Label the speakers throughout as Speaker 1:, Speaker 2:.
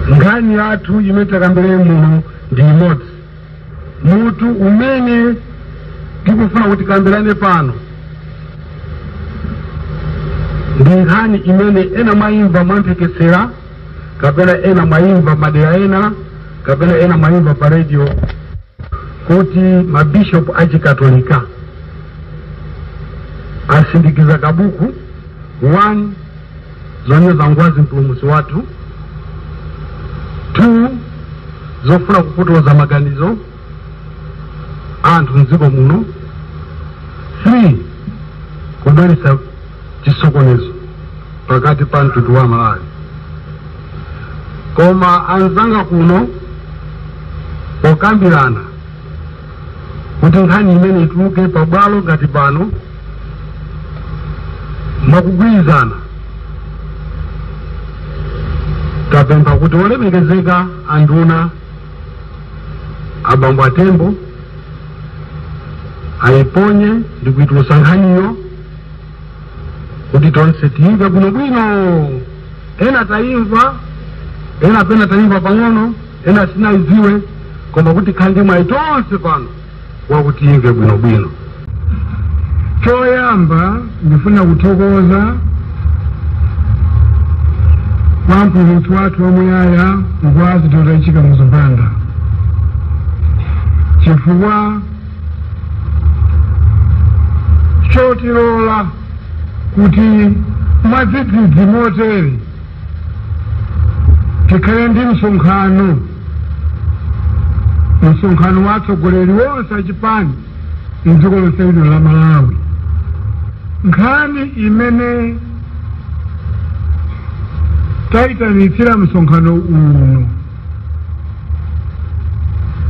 Speaker 1: Nkhani yathu imene takambirane muno ndi imodzi. Mutu umene tikufuna kuti tikambirane pano ndi nkhani imene ena mwayimva mwamphekesera kapena ena mwayimva madera ena kapena ena mwayimva pa radio kuti mabishopu achikatolika asindikiza kabuku 1 zonyoza ngwazi mpulumutsi wathu 2 zofuna kupotoza maganizo a anthu mdziko muno 3 kubweretsa chisokonezo pakati pa mtundu wa malawi koma anzanga kuno pokambirana kuti nkhani imene ituluke pabwalo ngati pano mwakugwirizana tapempha kuti olemekezeka anduna abambo atembo ayiponye ndi kuitulusa nkhaniyo kuti tonse tiyimve bwinobwino ena tayimva ena pena tayimva pang'ono ena sitinayidziwe koma kuti tikhale ndi mwayi tonse pano wakuti tiyimve bwinobwino choyamba
Speaker 2: ndifuna kuthokoza kwa mpulumutsi wathu wamuyaya ngwazi dr h kamuzu banda chifukwa chotilola kuti mwadzidzidzi motere tikhale ndi msonkhano msonkhano wa atsogoleri wonse achipani mdziko lonse lino la malawi nkhani imene tayitanitsira msonkhano uno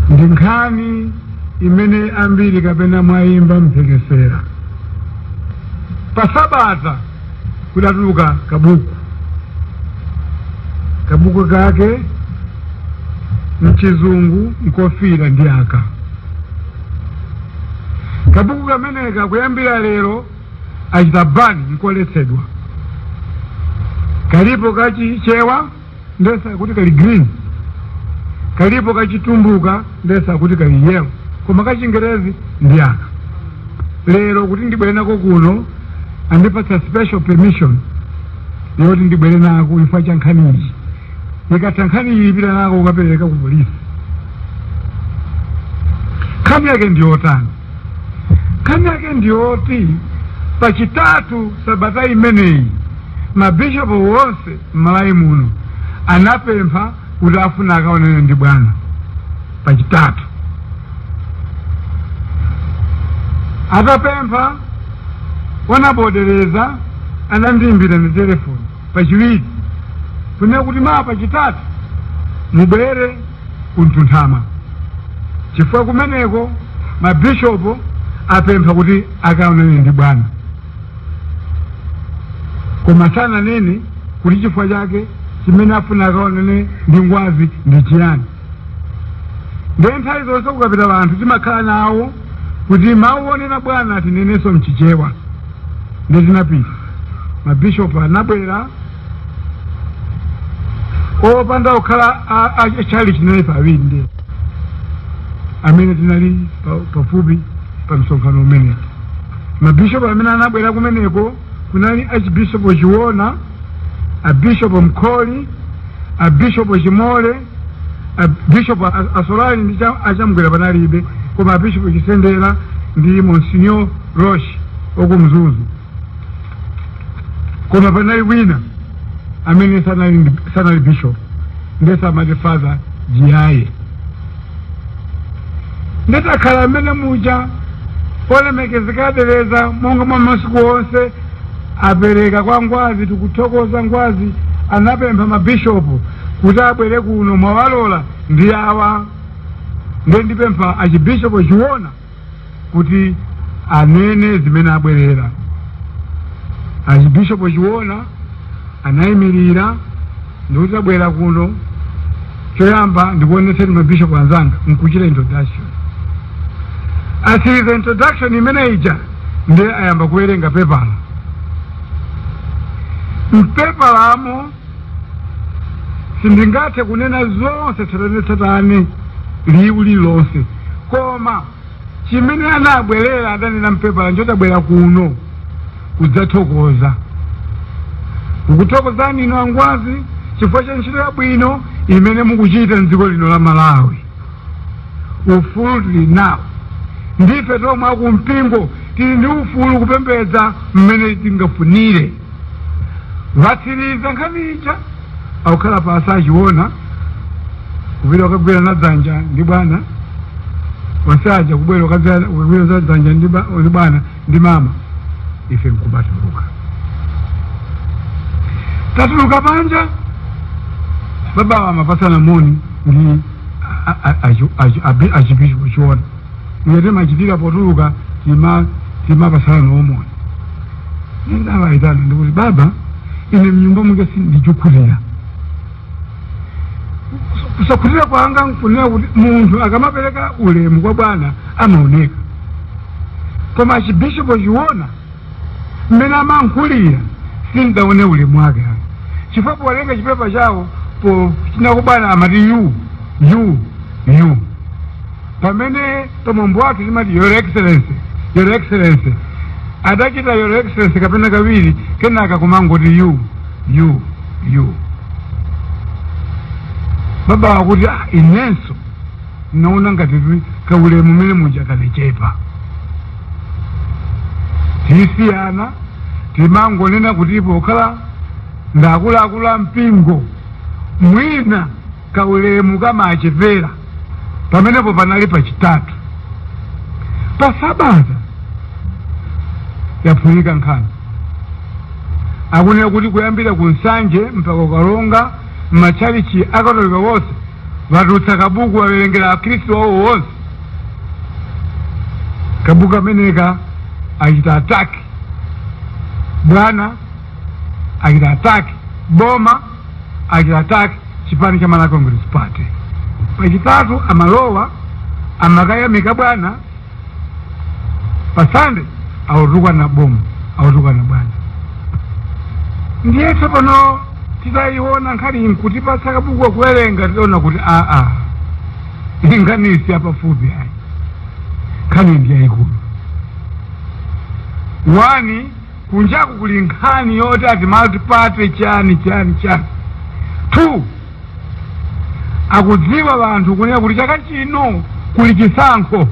Speaker 2: ndi nkhani imene ambiri kapena mwayimva mphekesera pasabata kudatuluka kabuku kabuku kake mchizungu mkofira ndi aka kabuku kameneka kuyambira lero achita ban nkoletsedwa kalipo kachichewa ndesa kuti kali green kalipo kachitumbuka ndesa kuti kali yellow koma kachingelezi ndi aka lero kuti ndibwere nako kuno andipatsa special permission yoti ndibwere nako chifukwa cha nkhani iyi ikatha nkhani iyi ndipita nako kukapereka ku polisi nkhani yake ndi yotani nkhani yake ndi yoti pachitatu sabata imeneyi mabishopu wonse m'malawi muno anapempha kuti afuna akaonane ndi bwana pachitatu atapempha honourable deleza anandiimbira ndi telefoni pachiwiri kunena kuti mawa pachitatu mubwere kumtunthama chifukwa kumeneko mabishopo apempha kuti akaonane ndi bwana koma sananene kuti chifukwa chake chimene afuna akaonane ndi ngwazi ndi chiyani ndiye nthawi zonse kukapita wanthu timakhala nawo kuti mawu onena bwana tinenenso mchichewa ndiye tinapita mabishopu anabwera opanda kukhala a- a- chalichi naye pawiri ndi amene tinali pa- pafupi pa msonkhano umenewu mabishopu amene anabwera kumeneko kunali achibishopu chiona abishopu mkhori abishopu chimole abishopu a- assolari ndi cha- achamgwera panalibe koma abishopu chisendera ndi monsignor roche wakumzuzu koma panali wina amene sanali ndi- sanali bishop ndese amati father jiyaye nditakhala mmene muja olemekezeka a deleza monga mwa masiku onse apereka kwa ngwazi tikuthokoza ngwazi anapempha mabishopu kuti abwere kuno mwawalola ndi awa ndiye ndipempha achibishopu chiona kuti anene zimene abwerera achibishopo chiona anayimirira ndikuti tabwera kuno choyamba ndikuonetseni mabishopo anzanga nkuchita introduction atsiriza introduction imene ija ndiye ayamba kuwerenga pepala mpepalamo sindingathe kunena zonse tsatanetsatane liwu lililonse koma chimene anabwerera adanena mpepala njo tabwera kuno kudzathokoza kukuthokozani inu angwazi chifukwa cha ntchito yabwino imene mukuchita mdziko lino la malawi ufulu tili nawo ndife tomwe akumpingo tili ndi ufulu kupembedza mmene tingafunire atsiriza nkhani ija akukhala pansi achiona kupita kukagwirana dzanja ndi bwana onse aja kubwera kukagwira kukagwirana dzanja ndi ba- ndi bwana ndi mama ife nkubatuluka tatuluka panja babawa amapatsana moni ndi a- a- a- achi- achi- abi- achibishopu chiona mmene timachitira potuluka tima timapatsana nawo moni ndidawaitana ndikuti baba ine mnyumba mwake sindikukhutira kusakhutira kwanga nkunena kuti munthu akamapereka ulemu kwa bwana amaoneka koma Archbishop Chiona mmene amayankhulira sindaone ulemu wake ayi chifukwa powerenga chipepa chawo po chinako bwana amati you you you pamene pamwambo wathu timati your excellency your excellency adachita your excellency kapena kawiri kenaka kumangoti you you you babawa akuti "Ah, inenso ndinaona ngati kuti kaulemu mmene muja kanachepa tisiyana timangonena kuti pokhala ndakuluakulu a mpingo mwina kaulemu kamachepera pamenepo panali pachitatu pa sabata yaphulika nkhani akunena kuti kuyambira ku Nsanje mpaka ku Karonga m'matchalichi akatolika wonse watulutsa kabuku wawerengera akhristu awo wonse kabuku kameneka achita attack bwana achita attack boma achita attack chipani cha Malawi Congress Party. Pachitatu amalowa amakayamika bwana pa Sunday akutukwana boma akutukwana bwana ndiye tsopano titayiona nkhani nkutipatsa kabukuka kuwerenga tidaona kuti aa nkhani si yapafupi ayi nkhani ndi yayikulu one kunjaku kuli nkhani yoti ati multiparty chani chani chani two akudziwa wanthu kunena kuti chaka chino kuli chisankho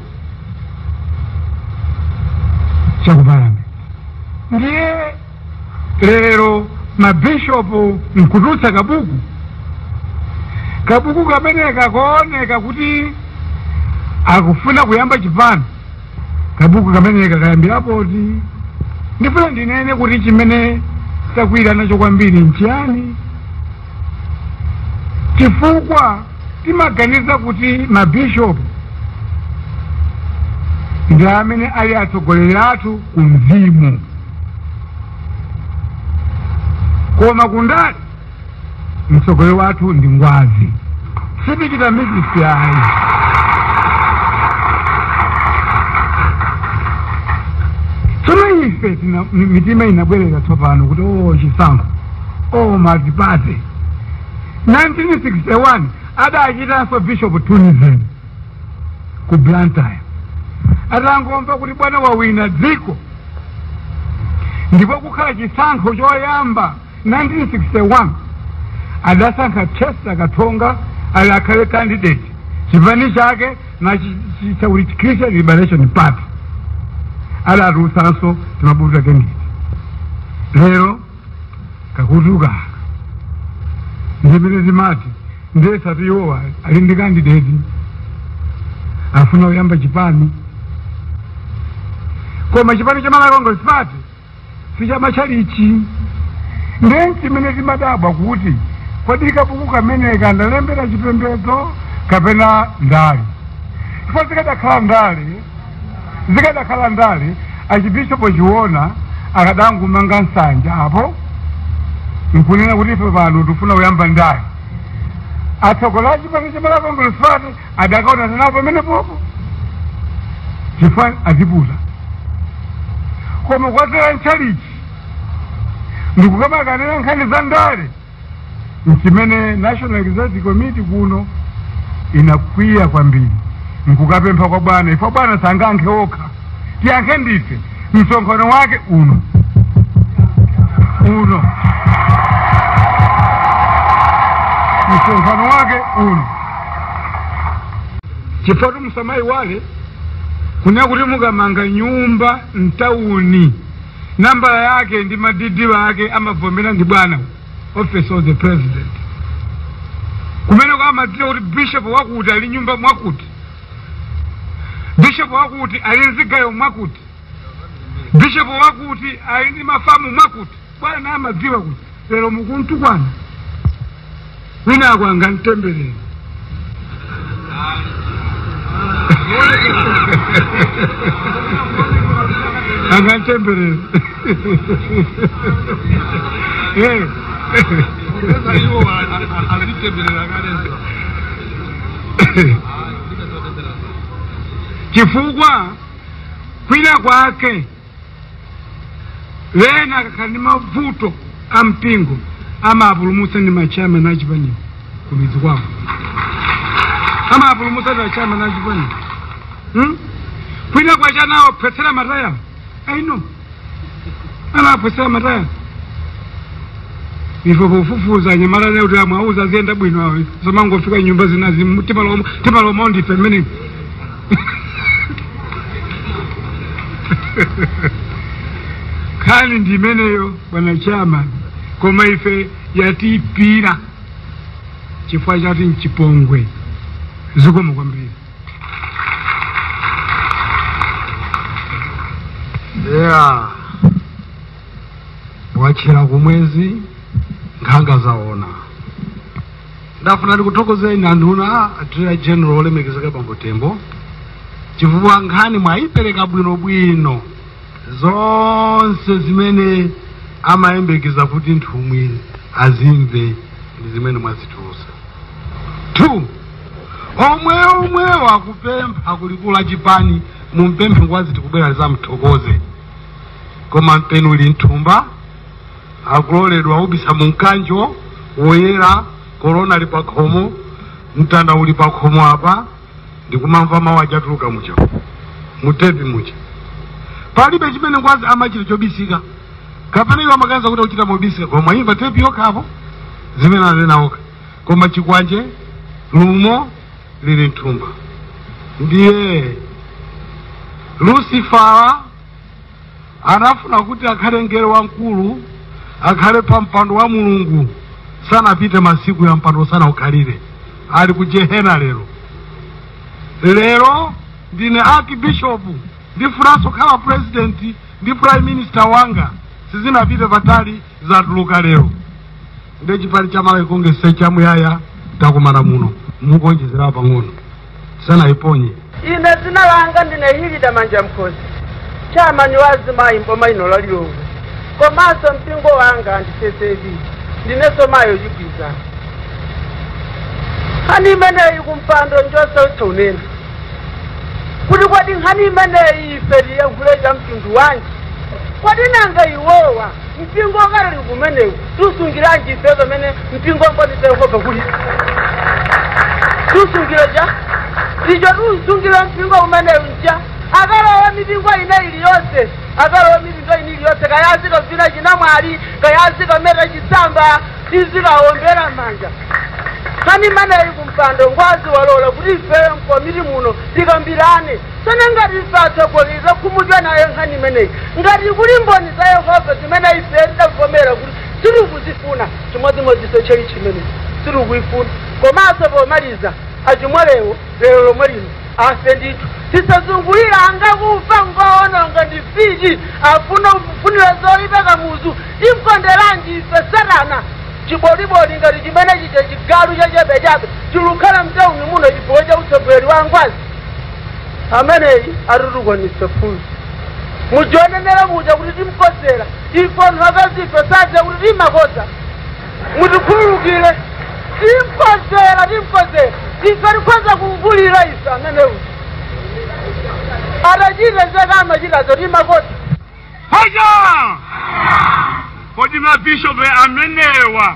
Speaker 2: cha ku Parliament ndiye lero mabishopu nkutulutsa kabuku kabuku kameneka kuoneka kuti akufuna kuyamba chipani kabuku kameneka kayambira poti ndifuna ndinene kuti chimene takwiya nacho kwambiri nchiyani chifukwa timaganiza kuti mabishopu ndi amene ali atsogoleri athu ku mzimu koma ku ndale mtsogoleri wathu ndi ngwazi sitichita mixed ayi tsono ife tina- mi- mitima inabwerera tsopano kuti o chisankho o multi-party 1961 adachitanso bishop tunism ku blantyre atangomva kuti bwana wawina dziko ndipo kukhala chisankho choyamba 1961 adasankha chester katsonga ali akhale candidate chipani chake nachitcha kuti christian liberation party adatulutsanso timabuku take ndiye lero kakutuka ndimene timati ndiye si iwowa ali ndi candidate afuna kuyamba chipani koma chipani cha malawi congress party sichamatchalichi ndiye nchimene timadabwa kuti kodi kabuku kameneka ndakulembera chipembedzo kapena ndale chifukwa zikadakhala ndale zikadakhala ndale archbishop chiona akadangumanga nsanja apo nkunena kuti ife pano tifuna kuyamba ndale atsogoleri a chipani cha malawi congress party akadaonana nawo pamenepopo chifukwa aziputa koma kukatera mtchalitchi ndikukamakanena nkhani za ndale nchimene national executive committee kuno inakwiya kwambiri nkukapempha kwa bwana ife bwana sangayankhe okha tiyankhe ndife msonkhano wake uno uno msonkhano wake uno chifukwa musamayiwale kunena kuti mukamanga nyumba mtawuni nambala yake ndi madidi wake amavomera ndi bwana office of the president kumene kwamadziwa kuti bishop wakuti ali nyumba mwakuti bishopo wakuti ali ndi zigayo mwakuti bishopo wakuti ali ndi mafamu mwakuti bwana amadziwa kuti lero mukumtukwana wina wake angamtemberere angamtemberere chifukwa kwina kwake wena akakhala ndi mavuto a mpingo amawapulumutsa ndi ma chairman a chipani kumidzi kwawo amawapulumutsa ndi ma chairman a chipani hmm? kwina kwache anawaphwetsera matayala a galimoto alapo sema ta ife kufufuza anyamata leo kuti amawauza aziyenda bwino awo samangofika nyumba zinazi timalowa timalowa ndife mmene nkhani ndi imeneyo bwana chairman koma ife yatiipira chifukwa choti mchipongwe zikomo kwambiri yeah watchera kumwezi nkhanga zaona ndafuna ndikuthokozeni anduna a Attorney General olemekezeka bambo tembo chifukwa nkhani mwayipereka bwinobwino zonse zimene amayembekeza kuti nthumwi azimve ndi zimene mwazitulutsa two omwe omwewo akupempha kulikulu la chipani mumpemphe ngwazi tikubwera tidzamthokoze koma mpeni uli mthumba akuloledwa kubisa mumkanjo woyera korona ali pakhomo mtanda uli pakhomo apa ndikumamva mawu akutuluka muja mutepi muja palibe chimene ngwazi amachita chobisika kapena iwo amaganiza kuti akuchita mobisika koma imvani tepi yokhapo zimene anena okha koma chikwanje lumo lili mthumba ndiye lusifala anafuna kuti akhale mngelo wamkulu akhale pa mpando wa mulungu sanapite masiku a mpando sanaukhalire ali ku jehena lero lero ndine archbishop ndifunanso kukhala president ndi prime minister wanga sizinapite patali zatuluka lero nde chipani cha malawi kongeresi chamuyaya takumana muno mukuonjezerawo pang'ono tisanayiponye ine dzina
Speaker 3: langa ndine hilda manjamkhosi chairman wa azimayi mboma lino la lilongwe komanso mpingo wanga ndi ccap ndinenso mayi ochigwiza nkhani imeneyi kumpando njosautsa kunena kuti kodi nkhani imeneyi ife tiyankhule cha mtundu wanji kodi nanga iwowa mpingo wakale umenewu tikusungiranji ife pamene mpingo wa mboni za yehova kuli tikusungiranji icho tikusungira mpingo umenewu uja akalowe mipingo ina iliyonse akalowe mipingo ina iliyonse kaya azikavina chinamwali kaya azikameta chisamba tizikawaombera manja nkhani imeneyi kumpando ngwazi walola kuti ifeyo mkomiti muno tikambirane Tsono ngati ife atsogoleri takhumudwa nayo nkhani imeneyi, ngati kuli Mboni za Yehova zimene ife tidavomera kuti sitikuzifuna, chimodzimodzinso tchalitchi imeneyi sitikuifuna. Komanso pomaliza, a Chimolewo lero lomwe lino afe ndithu. Tisazungulire anga kufa ngoononga ndi mfiti afuna kufunira zoipa Kamuzu. Timkonderanji ife Satana? Chiboliboli ngati chimene chija chigalu chachabechabe chilukhala mtauni muno chifukwa cha utsogoleri wa Ngwazi. ameneyi atitukwanisa phunzi muja anenera muja kuti timkozera ife anthu akazife sadziwa kuti timakoza mutikhululukire timkozera timkozera ife tikhoza kumvulira ife ameneyu atachita zake amachitazo timakoza poja
Speaker 2: kodi mabishopu amenewa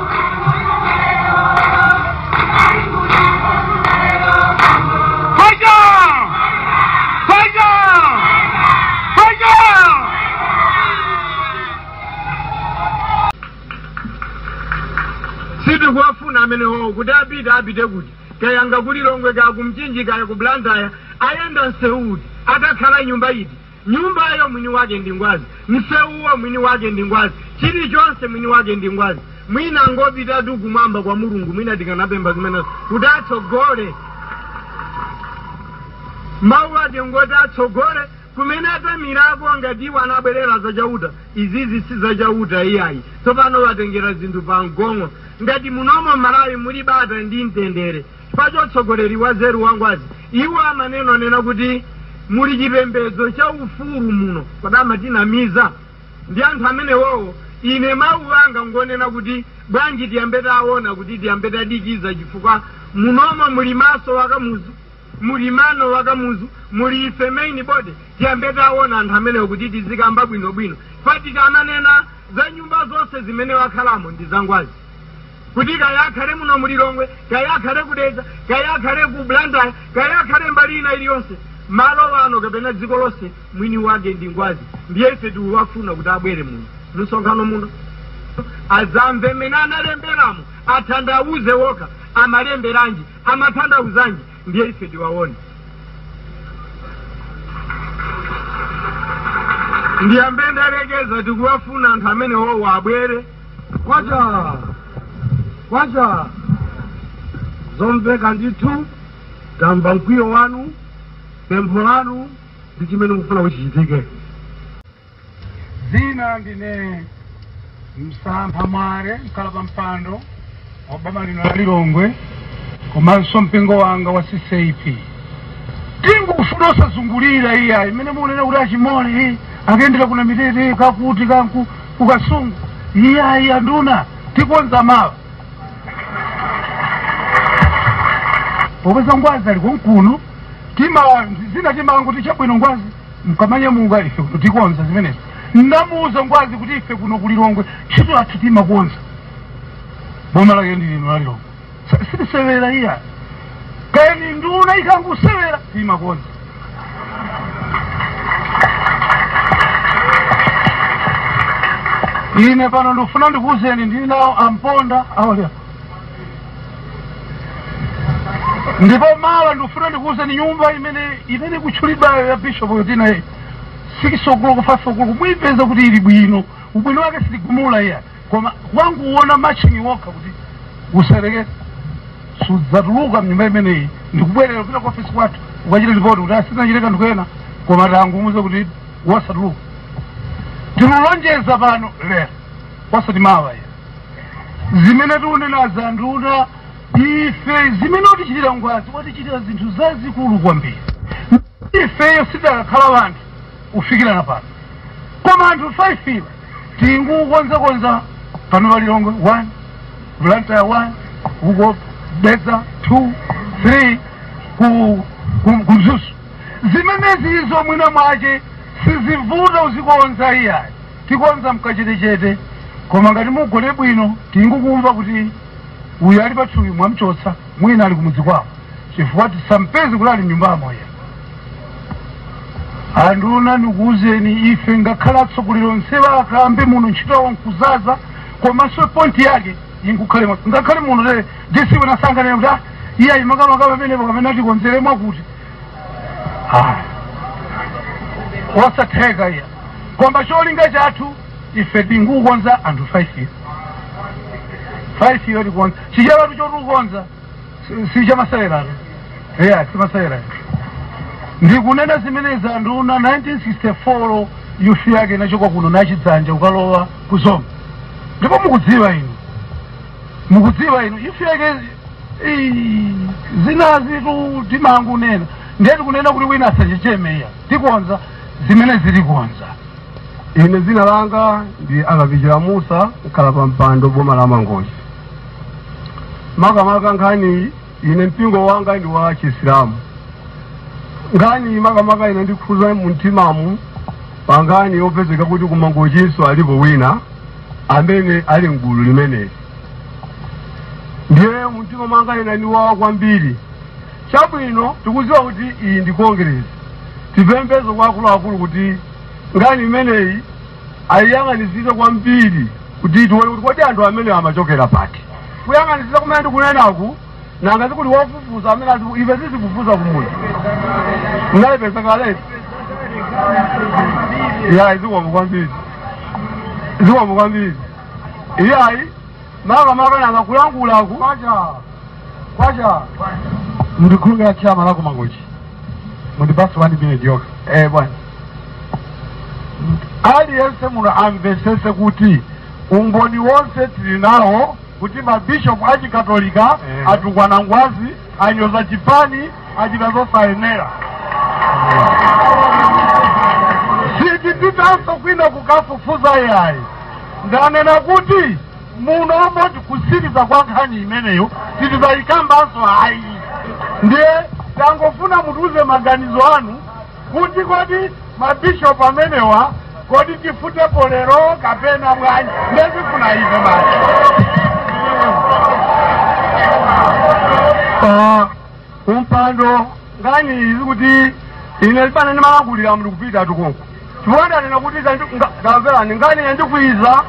Speaker 1: sitikuwafuna amenewowo kuti apite apite kuti kayanga ku lilongwe kaya ku mchinji kaya ku blantyre ayenda msewu uti akakhala nyumba iti Nyumbayo mwini wake ndi Ngwazi, msewuwo mwini wake ndi Ngwazi, chilichonse mwini wake ndi Ngwazi. Mwina angopitatu kumwamba kwa Mulungu, mwina tikanapempha zimenezo kuti atsogole. Mawu ake ngoti atsogole kumene atamirako ngati iwo anabwerera za Chauta. Izizi si za Chauta iyayi, tsopano watengera zinthu pa mgong'o. Ngati munomo m'Malawi muli bata ndi mtendere, Chifukwa cha utsogoleri wanzeru wa Ngwazi, iwo amanena kunena kuti muli chipembedzo cha ufulu muno, kodi amatinamiza? Ndi anthu amenewowo, ine mau anga ngonena kuti bwanji tiyambe taona kuti tiyambe tadikiza chifukwa munomo muli maso wa Kamuzu, muli mano wa Kamuzu, muli ife main body, tiyambe taona anthu amenewo kuti tizikamba bwino bwino chifukwa tikamanena za nyumba zonse zimene wakhalamo ndi za Ngwazi. kuti kaya akhale muno mu lilongwe kaya akhale ku dedza kaya akhale ku blantyre kaya akhale mbali ina iliyonse malo wano kapena dziko lonse mwini wake ndi ngwazi ndiye ife tiwafuna kuti abwere muno mumsonkhano muno azamve mmene analemberamo athandauze wokha amalemberanji amathandauzanji ndiye ife tiwaone ndiyambe ndalekeza tikuwafuna anthu amenewowo abwere kwacha kwacha zomveka ndithu tamva mkwiyo wanu pempho lanu ndi chimene mukufuna kuti
Speaker 2: chichitike zina ndine msampha mwale mkhalapampando wa boma lino la lilongwe komanso mpingo wanga wa ccap tingufuna osazungulira iya imene mukunena kuti achimole akuyendera ku namitete kakuti kanku kukasungu iyayi anduna tikonza mawa popeza ngwazi ali konkuno tima zina timango tichabwino ngwazi mkamanyamuka ife kuno tikonza zimenezi ndamuuza ngwazi kuti ife kuno kulilongwe ntchito yathu timakonza boma lake ndi lino la lilongwe sitisewera iya kani nduna ikangusewera timakonza ine pano ndikufuna ndikuuzeni ndili nawo amponda awalya ndipo mawa ndikufuna ndikuuzeni nyumba imene imene ikutchulidwayo ya bishop yotina iyi 6 o'clock 5 o'clock muipeza kuti ili bwino ubwino wake sitigumula iya koma kukanguwona marching wokha kuti usayerekeze sudzatuluka mnyumba imeneyi ndikubwerera kupita ku ofisi kwathu ukachita lipoti kuti asinachite kanthu kena koma tangumuuze kuti wasatuluka tingulonjeza pano lero wasati mawa iya zimene tiunenazi anduna ife zimene watichitira ngwazi watichitira zinthu zazikulu kwambiri ifeyo sitidakakhala wanthu kufikirana pano koma anthu 5 iwo tingukonzakonza pano pa lilongwe 1 blantyre 1 uko dedza 2 3 ku ku- ku mzuzu zimenezizo mwina mwace sizivuta uzikonza iyayi tikonza mkachetechete koma ngati mugone bwino tingukumva kuti uyu ali patchuthi mwamchotsa mwina ali kumudzi kwawo chifukwa tisampeze kuti ali mnyumbamo iya anduna ndikuwuzeni ife ngakhale atsogoleri onsewa akambe muno ntchito yawo nkuzaza komanso point yake inkukhale mwa- ngakhale muno lero dc wina asakanene kuti ah iye ayimakamaka pamenepo kapena tikonzere mwakuti Ah. osatheka iya koma cholinga chathu ife tingukonza anthu 5 iyo 5 iyo tikonza sichapatu chotukonza si chamaseweratu eya si masewerayo ndikunena zimenezi anduna 1964 yufi yake inachoka kuno nachidzanja ukalowa ku zomba ndipo mukudziwa inu mukudziwa inu yufi yake
Speaker 1: ii, zinazitu timangunena ndiye tikunena kuti wina asachecheme iya tikonza zimene zilikonza
Speaker 2: ine dzina langa ndi akapichira musa mkhala pa mpando boma la mangochi makamaka nkhani ine mpingo wanga ndi wa chisilamu nkhani makamaka inandikhuza mumtimamu pa nkhani yopezeka kuti kumangochinso alipo wina amene ali mgulu limeneli ndiye mumtima mwanga inandiwawa kwambiri Chabwino, tikudziwa kuti iyi ndi Kongeresi. Tipemphenso kwa akuluakulu kuti nkhani imeneyi ayiyang'anitsitse kwambiri kuti tione kuti kodi anthu amenewa amachokera pati. Kuyang'anitsitsa kumene ndikunenaku, nanga sikuli wofufuza amene ati ife tizifufuza kumudzi. Munayipeza kaletu? Iyayi, zikomo kwambiri. Zikomo kwambiri. Iyayi. makamaka nanga kulankhulaku kwacha kwacha mundikhululukire chairman waku mangochi mundipase wani minute yokha eh bwana
Speaker 1: aliyense muno amvesese kuti umboni wonse tili nawo kuti mabishopu achikatolika Eh. atukwana ngwazi anyoza chipani achita zosayenera sitipitanso kwina kukafufuza yayi ndanena kuti muno moti kusiriza kwa nkhani imeneyo sitizayikambanso ayi ndiye tangofuna mutiuze maganizo anu kuti kodi ma bishop amenewa kodi tifutepo lero kapena bwanji ndezifuna ife
Speaker 2: basi Ah, ampando nkhani izi kuti ine libana ndimalankhulira mndu kupita tukunku chifukwa ndanena kuti zandi- nga- ndamverani nkhani yandikwiza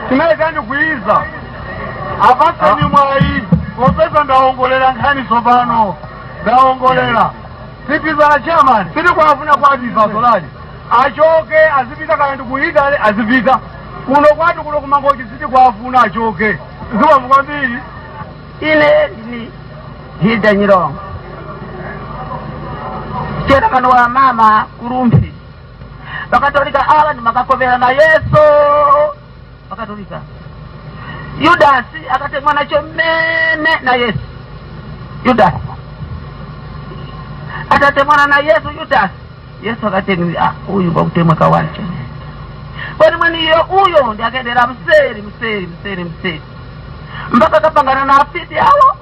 Speaker 2: chimene
Speaker 1: chandikwiza apatseni mwayi popeza ndawongolera nkhani tsopano ndawongolera Sipizana chairman sitikuwafuna kwathu assolari achoke azipita kaya ndi ku Italy azipita kuno kwathu kuno kumangochi sitikuwafuna achoke zikomo kwambiri
Speaker 3: ine ndine hilda nyirongo chairman wa mama kurumphi vakatolika ava ndimakakovera na yesu bakatolika yudasi akatemwa nacho mmene na yesu yudasi atatemwana na yesu yudasi yesu akateni "Ah, uyu kwakutemwa kawacho kwani mweniyo uyo ndi akendera mseri mseri mseri mseri mpaka akapangana na afiti awo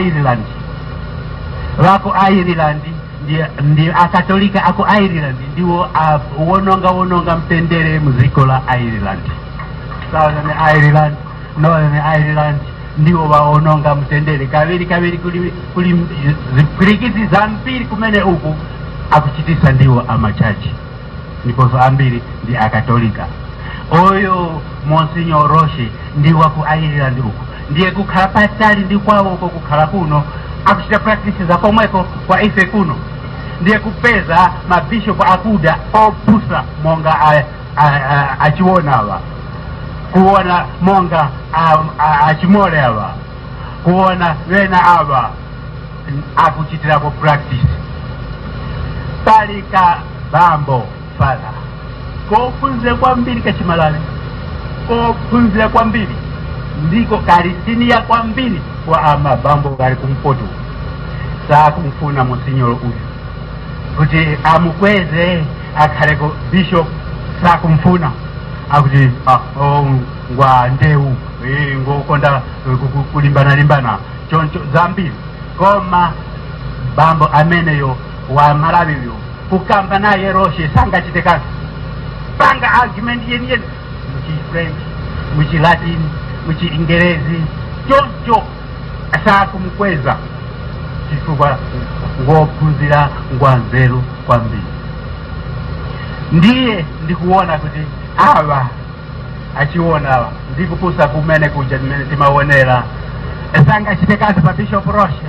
Speaker 4: ireland vaku ireland ndi- ndi akatolika aku ireland ndiwo a- wononga wononga mtendere muziko la ireland southern ireland northern ireland ndiwo vaononga mtendere kaviri kaviri kuli, kuli zipwirikiti zambiri kumene uku akuchitisa ndiwo amachachi ndiponso ambiri ndi akatolika uyo monsignor roche ndi waku ireland uku ndiye kukhala patali ndi kwawoko kukhala kuno akuchita practice za komweko kwa ife kuno ndiye kupeza mabishopu akuda opusa monga a- a- a- achiona awa kuona monga a- a- achimole awa kuona wena awa akuchitirapo practice pali kabambo fala kophunzira kwambiri kachimalawi kophunzira kwambiri ndiko kali senior kwambiri kwa amabambo kali kumpoto sakumfuna monsinyolo uyu kuti amukweze akhaleko bishop sakumfuna akuti ah, oh, ngwa ndewu eh, ngokonda eh, ku- ku- kulimbana limbana choncho zambiri koma bambo ameneyo wa malawi uyu kukamba naye roche sangachite kanthu panga argument yeniyeni muchifrench muchilatin muchingerezi choncho sakumkweza chifukwa ngophunzira ngwanzeru kwambiri ndiye ndikuona kuti awa achiona ndikupusa kumene kuja mmene timaonera sangachite kanthu pa bishop roche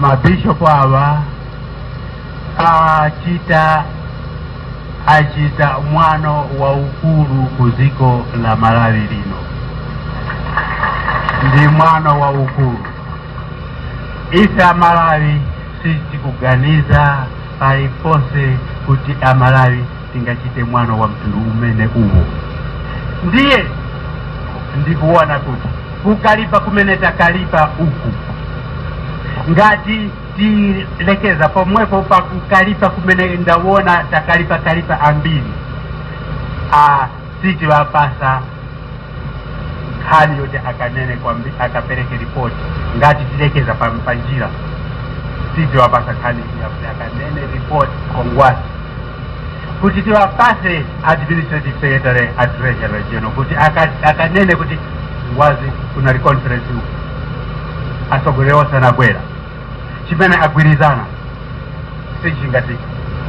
Speaker 4: mabishopu awa achita achita mwano waukulu ku dziko la malawi lino ndi mwano waukulu ife amalawi sitikuganiza paliponse kuti amalawi tingachite mwano wa mtundu umene uwo ndiye ndikuona kuti kukalipa kumene takalipa uku ngati tilekeza pomwepo pa kukalipa kumene ndawona takalipa kalipa ambiri a sitiwapasa nkhani yoti akanene kwambi akapereke ripoti ngati tilekeza pa pa njira sitiwapasa nkhani yakuti akanene ripoti kwa ngwazi kuti tiwapase administrative secretary a treasurer regional kuti aka- akanene kuti ngwazi kunali conference uku atsogoleri onse anabwera chimene agwirizana sichi ngati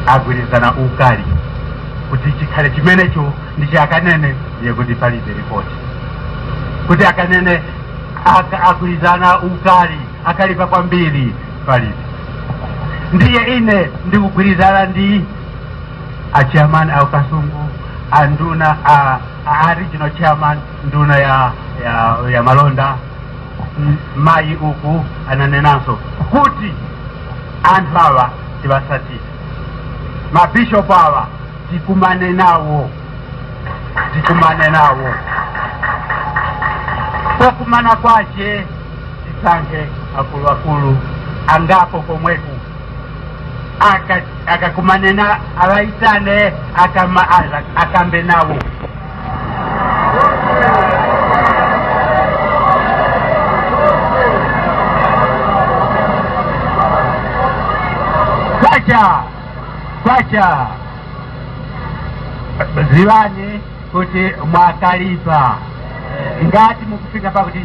Speaker 4: agwirizana ukali kuti chikhale chimenecho ndichi akanene ndiye kuti palibe ripoti kuti akanene aka- agwirizana ukali akalipa kwambiri palibe ndiye ine ndikugwirizana ndi achairman a ku kasungu a nduna a, a regional chairman nduna ya, ya, ya malonda M- mayi uku ananenanso kuti anthu awa tiwasatire mabishopu awa tikumane nawo tikumane nawo pokumana kwache tisankhe akuluakulu angapo komweku Aka- akakumane na awaitane akama, ala- akambe nawo kwacha kwacha ziwani kuti mwakalipa ngati mukufika pakuti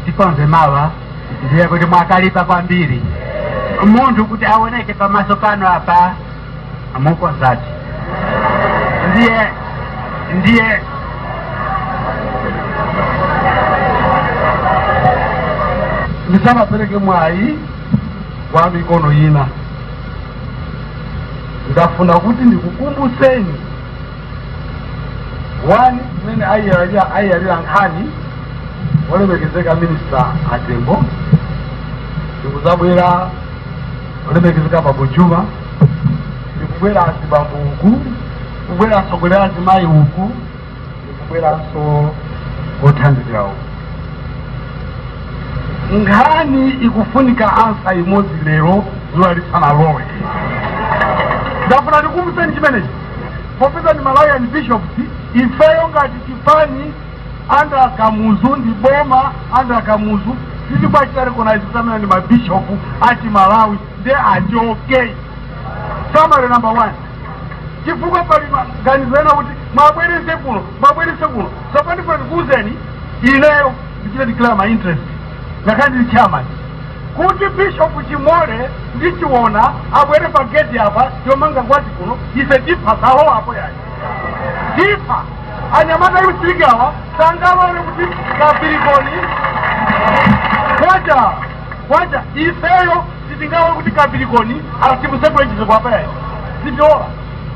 Speaker 4: tikonze mawa ndiye kuti mwakalipa kwambiri munthu kuti aoneke pamaso pano apa amukonzadi ndiye
Speaker 1: ndiye ndisanapereke mwayi kwa mikono ina ndafuna kuti ndikukumbutseni 1 mmene ayiyalira ayiyalira nkhani olemekezeka minista atembo ndikuzabwera olemekezeka bambo juma ndikubwera azibambo uku kubwera atsogoleri azimayi uku ndikubweranso othandizira uku nkhani ikufunika ansa imodzi lero zuwa lisanalowe ndafuna ndikumbuseni chimenechi popeza ndi malawian bishops ifeyo ngati chipani under kamuzu ndi boma under kamuzu sitikwachita recognize kuti amene ndi mabishopu achimalawi nde achoke summary number one chifukwa pali maganizo ena kuti mwabwerese kuno mwabwerese kuno tsopano ndifuna ndikuuzeni ineyo ndichite declare my interest ngakhale ndili chairman kuti bishop chimole ndi chiona abwere pa gate apa yomanga ngwazi kuno ife tipha salowa apo yayi tipha anyamata youth league awa sangalole kuti kapirikoni kwacha kwacha ifeyo sitingalole kuti kapirikoni timutsegulire chitseko apa yayi sitilola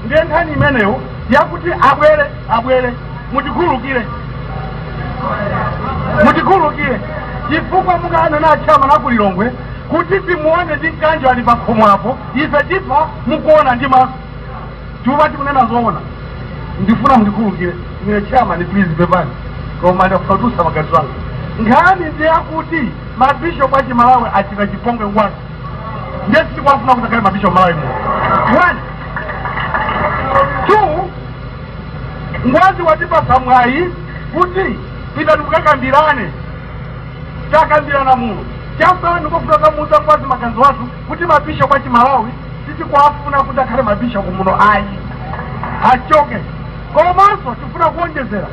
Speaker 1: ndiye nkhani imeneyo yakuti abwere abwere mutikhululukire mutikhululukire chifukwa mukanena achairman akulilongwe kuti timuone ndi mkanjo ali pakhomo apo ife tipha mukuona ndi maso tipha tikunena zoona ndifuna mundikhululukire ine chairman please pepani koma ndafatusa magazi wanga nkhani ndi yakuti mabishopu a chimalawi achita chipongwe ngwazi ndiye sitikwafuna kuti akhale mabishopu malawi muno one Ngwazi watipatsa mwayi kuti pitani mukakambirane takambirana muno chasanu kukamuuza ngwazi maganizo athu kuti mabishopu a chimalawi sitikuwafuna kuti akhale mabishopu muno ayi
Speaker 2: achoke komanso tifuna kuonjezera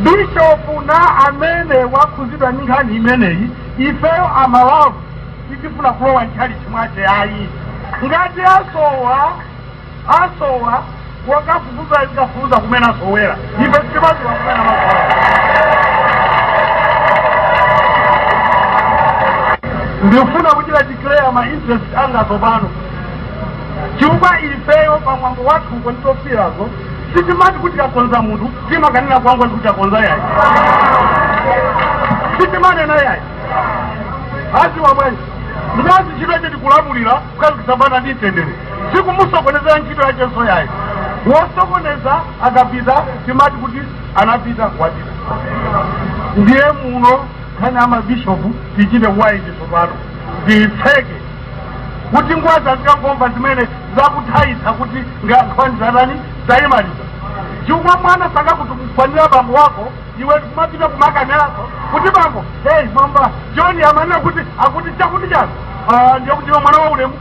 Speaker 2: bishopu wina amene wakhuzidwa ndi nkhani imeneyi ifeyo amalawi sitifuna kulowa ntchalichi mwache ayi ngati asowa asowa wakafufuza azikafufuza kumene asowera ife sitimadziwa kumene amasowa ndifuna kuchita declare ma interest anga tsopano chifukwa ifeyo pamwambo wathu kunditofirazo sitimati kuti takonza munthu timakanena kwa ngwazi kuti takonza yayi sitimanena yayi adziwa bwanji mkazi ntchito yache ndi kulamulira kukhazikitsa bata ndi mtendere sikumusokonezera ntchito yachenso yayi wosokoneza akapita timati kuti anapita wapita ndiye muno nkhani ya mabishopu tichite kuyiti tsopano ndiyitseke kuti ngwazi azikangomva zimene zakuthaitsa kuti nkhani yatani tayimaliza chifukwa mwana sangakutukwanire bambo wako iwe nkumapita kumakanena kuti bambo hey mwamba joni amanena kuti akuti chakuti chani Ah, ndiye kuti iwe mwana wa ulemu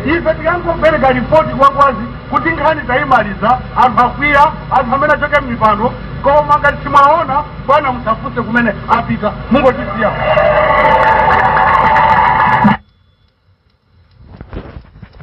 Speaker 2: ife tikangopereka ripoti kwa ngwazi kuti nkhani tayimaliza anthu akwiya anthu amene achoke m'mipando koma ngati simuwaona bwana musafufuze kumene apita mungotisiya